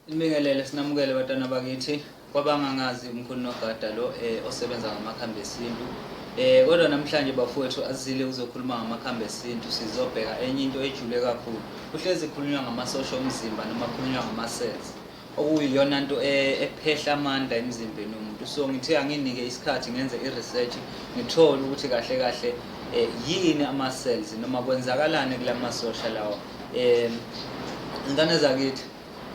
Nibingelele sinamukele batana bakithi kwabangangazi umkhulu nogada lo eh, osebenza ngamakhambi esintu eh kodwa namhlanje bafowethu azile uzokhuluma ngamakhambi esintu sizobheka enye into ejule kakhulu kuhlezi khulunywa ngamasosha omzimba noma khulunywa ngamasense okuyiyona nto eh, ephehla amandla emzimbeni womuntu so ngithe anginike isikhathi ngenze i-research ngithole ukuthi kahle kahle eh, yini ama-cells noma kwenzakalani kula masosha lawa um iy'ngane zakithi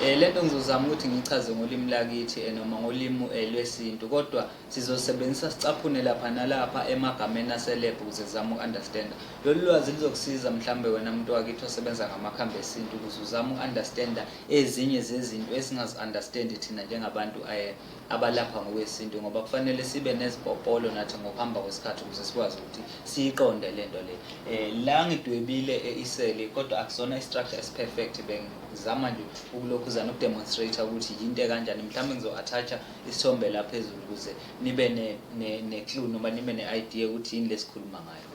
um le nto ngizozama ukuthi ngiyichaze ngolimi lakithi um noma ngolimi um lwesintu kodwa sizosebenzisa sicaphune lapha nalapha emagameni aselebhu ukuze zizame uku-understanda lolu lwazi lizokusiza mhlawumbe wena muntu wakithi osebenza ngamakhambi esintu ukuze uzame uku-understanda ezinye zezinto esingazi-understandi thina njengabantu um abalapha ngokwesintu ngoba kufanele sibe nezipopolo nathi ngokuhamba kwesikhathi ukuze sikwazi ukuthi siyiqonde le nto le um la ngidwebile eh, iseli kodwa akusona i-structure esiperfect bengizama nje ukulokhuzana ukudemonstrate ukuthi yinto ekanjani mhlawumbe ngizo-athatsha isithombe la phezulu ukuze nibe ne-clue noma nibe ne-idea ukuthi yini lesikhuluma ngayo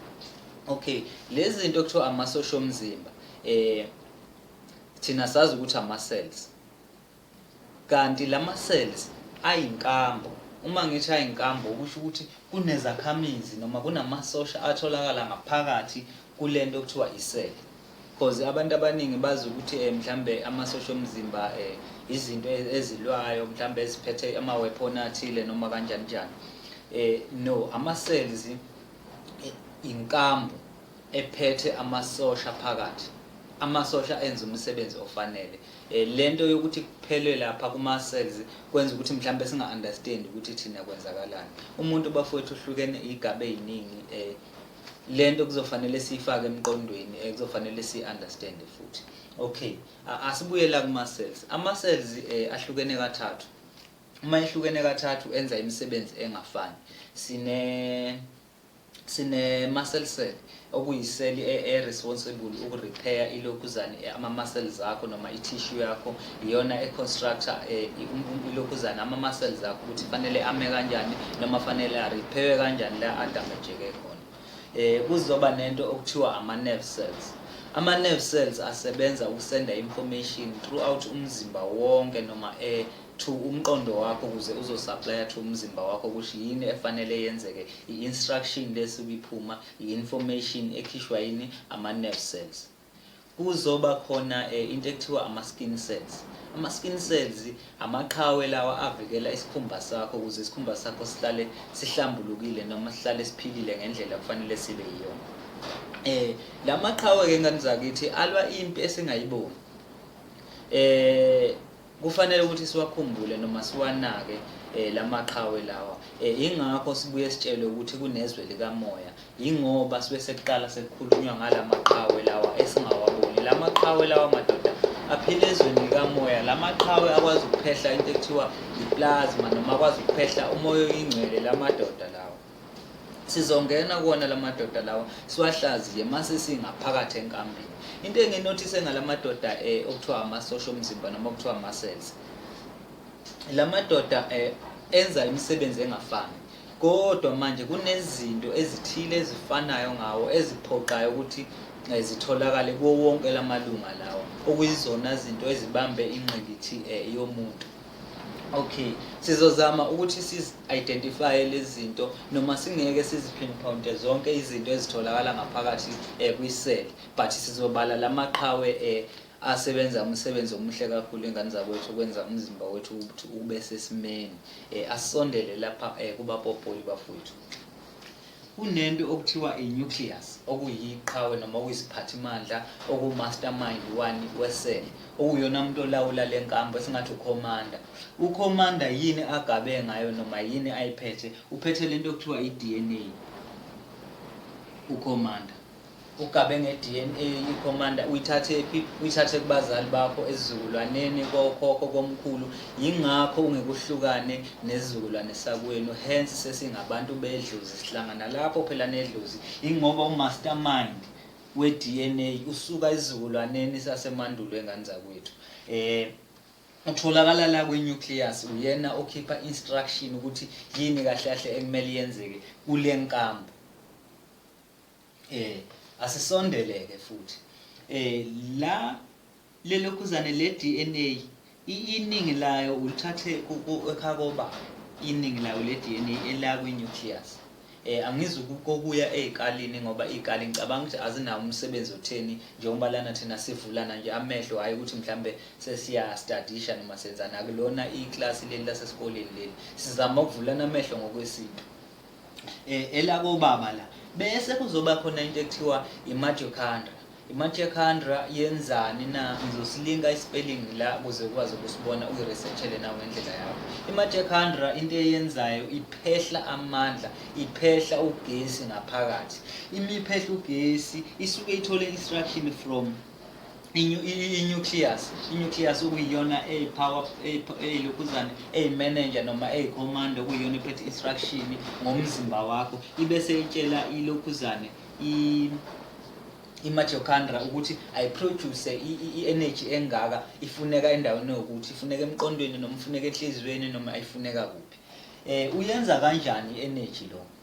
okay lezi zinto kuthiwa amasosha omzimba um thina sazi ukuthi ama-cells Kanti lama cells ayinkambu. Uma ngithi ayinkambu kusho ukuthi kunezakhamizi noma kunamasosha atholakala ngaphakathi kulento okuthiwa iseli. Because abantu abaningi bazi ukuthi eh, mhlambe amasosha omzimba eh, izinto e-, ezilwayo mhlambe eziphethe ama weapon athile noma kanjani njani. Eh no, ama cells inkambu ephethe amasosha phakathi amasosha enza umsebenzi ofanele eh, lento yokuthi kuphelwe lapha kuma cells kwenza ukuthi mhlawumbe singa understand ukuthi thina kwenzakalani umuntu bafowethu uhlukene igabe eziningi eh, lento kuzofanele siyifake emqondweni eh, kuzofanele si understand futhi okay asibuyela kuma cells ama cells eh, ahlukene kathathu uma ehlukene kathathu enza imisebenzi engafani sine Sine-muscle cell okuyiseli e-responsible e-, ukurepair ilokhuzane e-, ama-muscles akho noma i-tissue yakho iyona e-constructor e-, um, um, ilokhuzane ama-muscles akho ukuthi fanele ame kanjani noma fanele arepairwe kanjani la adamejeke khona um kuzoba nento okuthiwa ama-nerve cells ama-nerve cells asebenza ukusenda information throughout umzimba wonke noma to umqondo wakho ukuze uzosuplya to umzimba wakho ukuthi yini efanele yenzeke i-instruction lesuke iphuma i-information ekhishwa yini ama-nerve cells kuzoba khona um into ekuthiwa ama-skin cells ama-skin cells amaqhawe lawa avikela isikhumba sakho ukuze isikhumba sakho sihlale sihlambulukile noma sihlale siphilile ngendlela kufanele sibe yiyona um la maqhawe-ke ngani zakithi alwa impi esingayiboni um Kufanele ukuthi siwakhumbule noma siwanake eh, lamaqhawe lawa eh, ingakho sibuye sitshelwe ukuthi kunezwe likamoya yingoba sibe sekuqala sekukhulunywa ngalamaqhawe lawa esingawaboni lamaqhawe lawa madoda aphila ezweni likamoya lamaqhawe akwazi ukuphehla into ekuthiwa iplasma noma akwazi ukuphehla umoya oyingcwele lamadoda lawa sizongena kuwona la madoda lawa siwahlaziye mase singaphakathi enkambini into enginothise ngala madoda um okuthiwa amasosha omzimba noma okuthiwa ama-cells la madoda um enza imisebenzi engafani kodwa manje kunezinto ezithile ezifanayo ngawo eziphoqayo ukuthi um zitholakale kuwo wonke la malunga lawa okuyizona zinto ezibambe ingqikithi um yomuntu Okay, sizozama ukuthi siz identify lezinto noma singeke sizi pinpoint zonke izinto ezitholakala ngaphakathi eh, kwi cell but sizobala lamaqhawe eh asebenza umsebenzi omuhle kakhulu ingane zakwethu ukwenza umzimba wethu ukuthi ube sesimeni eh asondele lapha eh kubapopoli bafowethu Kunento okuthiwa i-nucleus okuyiqhawe noma okuyisiphathimandla okumastermind wani wesele okuyona umuntu olawula le nkambo esingathi ukhomanda. Ukhomanda yini agabe ngayo noma yini ayiphethe? Uphethe lento okuthiwa i-DNA ukhomanda. Ugabe ngeDNA iCommander uyithathephi? Uyithathe kubazali bakho, esizukulwaneni, kokhokho, komkhulu. Yingakho ungekuhlukane nesizukulwane sakwenu. Hence sesingabantu bedlozi. Sihlangana lapho phela nedlozi. Yingoba umastermind weDNA usuka esizukulwaneni sasemandulo engane zakwethu. Eh utholakala la kwinucleus uyena okhipha instruction ukuthi yini kahle kahle ekumele yenzeke kule nkambo Eh asisondeleke futhi. Eh la lelokhuzane le DNA iningi layo ulithathe ekhakoba iningi layo le DNA ela kwi nucleus. Eh angizi kokuya ezikalini ngoba izikali ngicabanga ukuthi azinawo umsebenzi otheni njengoba lana thina sivulana nje amehlo hayi ukuthi mhlambe sesiya studisha noma senzana kulona iclass leli lasesikoleni leli. Sizama ukuvulana amehlo ngokwesintu. eh, elakobaba la bese kuzoba khona into ekuthiwa imajokhandra imajokhandra yenzani na ngizosilinka ispelling la kuze ukwazi ukusibona uyiresearchele nawe ngendlela yakho imajokhandra into eyenzayo iphehla amandla iphehla ugesi ngaphakathi imiphehla ugesi isuke ithole instruction from i-nucleus i-nucleus okuyiyona eyi-power eyilokhuzane eyi-manager noma eyi-command okuyiyona ephethe instruction ngomzimba wakho ibe seyitshela ilokhuzane i-mitochondria ukuthi ayiproduce i-energy engaka ifuneka endaweni yokuthi ifuneka emqondweni noma ifuneka enhliziyweni noma ifuneka kuphi um uyenza kanjani i-energy lokho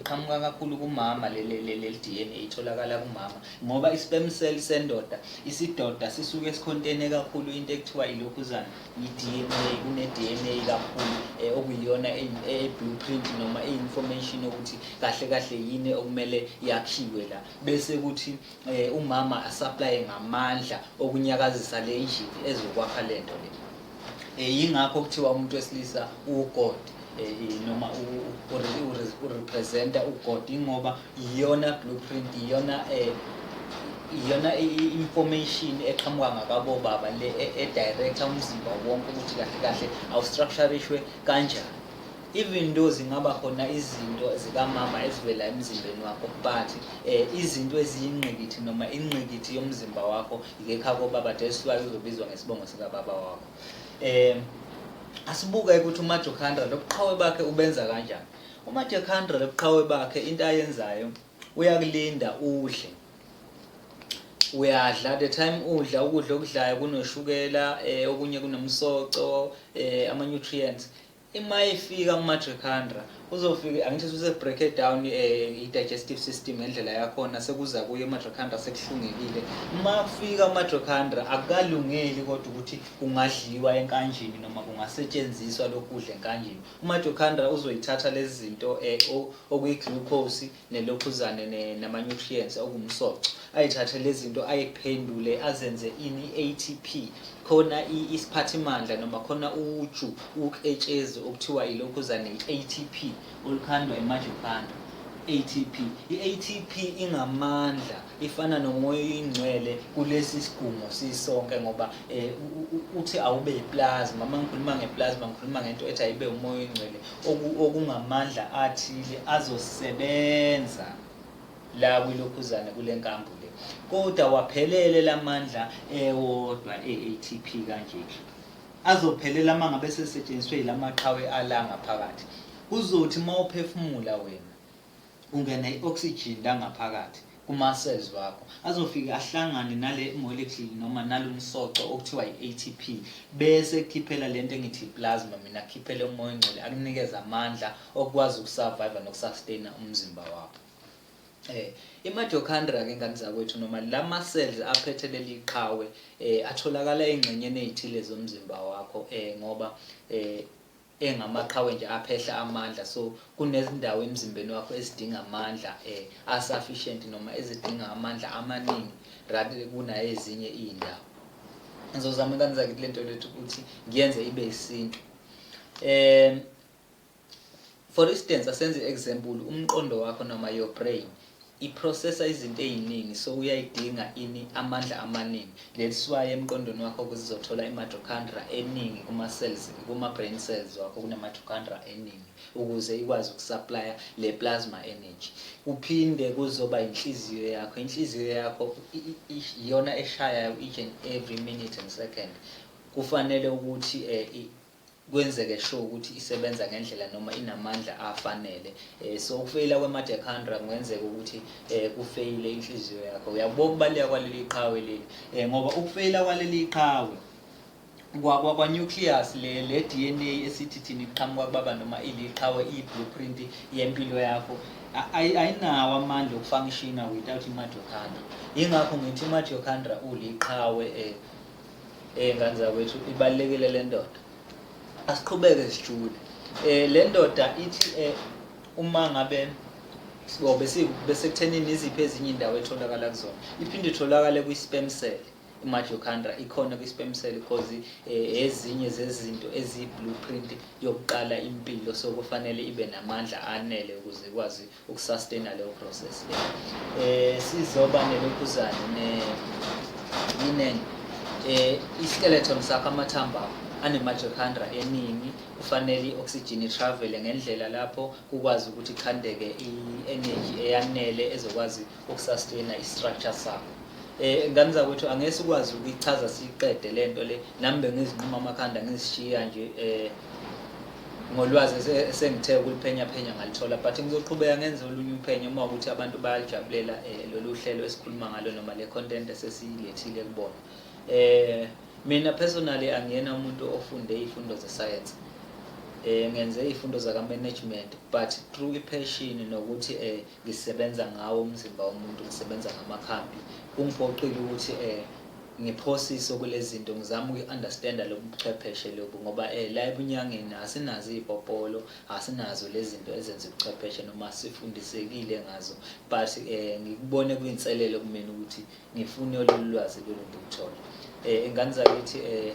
iqhamuka kakhulu kumama leli DNA itholakala kumama ngoba i-sperm cell sendoda isidoda sisuke sikhontene kakhulu into ekuthiwa ilokhuzana i-DNA kune-DNA kakhulu eh, okuyiyona e-blueprint e-, noma e-information yokuthi kahle kahle yini okumele yakhiwe la bese kuthi eh, umama asaplaye ngamandla okunyakazisa le injini ezokwakha le nto le eh, yingakho kuthiwa umuntu wesilisa uwugod eh, noma urepresenta ugod ingoba iyona blueprint iyona eh, iyona i-information eqhamuka ngakabobaba le e-director umzimba wonke ukuthi kahle kahle awustructurishwe kanjani even though zingaba khona izinto zikamama ezivela emzimbeni wakho but eh, izinto eziyingqikithi noma ingqikithi yomzimba wakho yikekhako baba that's why uzobizwa ngesibongo sikababa wakho um asibuke ukuthi umajohandra lobuqhawe bakhe ubenza kanjani umajohandra lobuqhawe bakhe into ayenzayo uyakulinda udle uyadla the time udla ukudla okudlayo kunoshukela um okunye kunomsoco um ama-nutrients Ima ifika kuMatricandra uzofika angithi suse break it down eh, i digestive system ngendlela yakhona sekuza kuye uMatricandra sekuhlungekile. Uma kufika uMatricandra akukalungeli kodwa ukuthi kungadliwa enkanjini noma kungasetshenziswa lokudla enkanjini. UMatricandra uzoyithatha lezi zinto eh, o- okuyi glucose nelokhuzane ne, nama-nutrients okumsoco ayithathe lezinto ayiphendule azenze ini ATP khona isiphathimandla noma khona uju uketshezi okuthiwa ilokhuzane i-ATP olukhandwa imajophanda ATP i-ATP ingamandla ifana nomoya oyingcwele kulesi sigungu sisonke ngoba um uthi awube yiplasma uma ngikhuluma ngeplasma ngikhuluma ngento ethi ayibe umoya oyingcwele okungamandla athile azosebenza la kwilokhuzane kule nkambo le kodwa waphelele la mandla ewodwa e-atp kanje azophelela uma ngabe sesetshenziswe yila maqhawe alanga phakathi kuzothi uma uphefumula wena Kungena i-oxygen la ngaphakathi kuma-cells wakho, azofike ahlangane nale molecule noma nalo msoco okuthiwa i-ATP, bese ekukhiphela le nto engithi i-plasma, mina akukhiphele umoya ongcwele, akunikeze amandla okukwazi ukusurvive nokusustainer umzimba wakho. Eh, i-mitochondria ke ngane zakwethu noma lama cells aphethe leli qhawe eh atholakala engxenyeni ezithile zomzimba wakho eh ngoba eh engamaqhawe nje aphehla amandla so kunezindawo emzimbeni wakho ezidinga amandla eh asufficient noma ezidinga amandla amaningi rather kunayezinye izindawo ngizozama ingane zakithi lento lethu ukuthi ngiyenze ibe isintu um for instance asenze example umqondo wakho noma your brain I processor izinto eziningi so uyayidinga ini amandla amaningi. Leliswayi emqondweni wakho ukuthi izothola i mitochondria eningi kuma cells kuma brain cells wakho kune mitochondria eningi ukuze ikwazi ukusupplya le plasma energy. Kuphinde kuzoba inhliziyo yakho. Inhliziyo yakho iyona eshayayo each and every minute and second. Kufanele ukuthi eh, kwenzeke sure ukuthi isebenza ngendlela noma inamandla afanele eh, so ukufeyila kwemadekhandra kungenzeka ukuthi eh, kufeyile inhliziyo yakho uyakubona ukubaluleka kwaleli qhawe leli eh, ngoba ukufeyila kwaleli qhawe kwakwa-nucleus le le DNA esithi thina iqhamuka kubaba noma iliqhawe i-blueprint yempilo yakho ayinawo amandla okufunctiona without i-mitochondria yingakho ngithi i-mitochondria uliqhawe um Eh ngane zakwethu ibalekile le ndoda. Asiqhubeke sijule. Eh le ndoda ithi eh uma ngabe sibo bese bese kuthenini iziphi ezinye indawo etholakala kuzona. Iphinde itholakale kwi sperm cell. imajocandra ikhona kwi-sperm cell because eh, ezinye zezinto eziyi-blueprint yokuqala impilo so kufanele ibe namandla anele ukuze ikwazi ukusustaina leyo process le eh sizoba nelokhuzane ne linen eh iskeleton sakho amathambo akho anemitochondria eningi kufanele i-oxygen itravele ngendlela lapho kukwazi ukuthi khandeke i-energy eyanele ezokwazi ukusustaina i-structure sakho eh ngane zakwethu angeke sikwazi ukuyichaza siqede lento le nami bengizinquma amakhanda ngizishiya nje eh ngolwazi esengithe ukuliphenya phenya ngalithola but ngizoqhubeka ngenze olunye uphenyo uma ukuthi abantu bayalijabulela eh, lolu hlelo esikhuluma ngalo noma le content esesiyilethile kubona eh mina personally angiyena umuntu ofunde izifundo zesayensi eh ngenze izifundo zaka management but through i passion nokuthi eh ngisebenza ngawo umzimba womuntu ngisebenza ngamakhambi kungiphoqile ukuthi eh ngiphosise kulezinto ngizama uku-understanda lobu buchwepheshe lobu ngoba eh la ebunyangeni asinazo iy'popolo asinazo lezi zinto ezenza ubuchwepheshe noma sifundisekile ngazo but eh ngikubone kuyinselelo kumina ukuthi ngifune lolu lwazi lolu ngikuthole eh ingane zakithi eh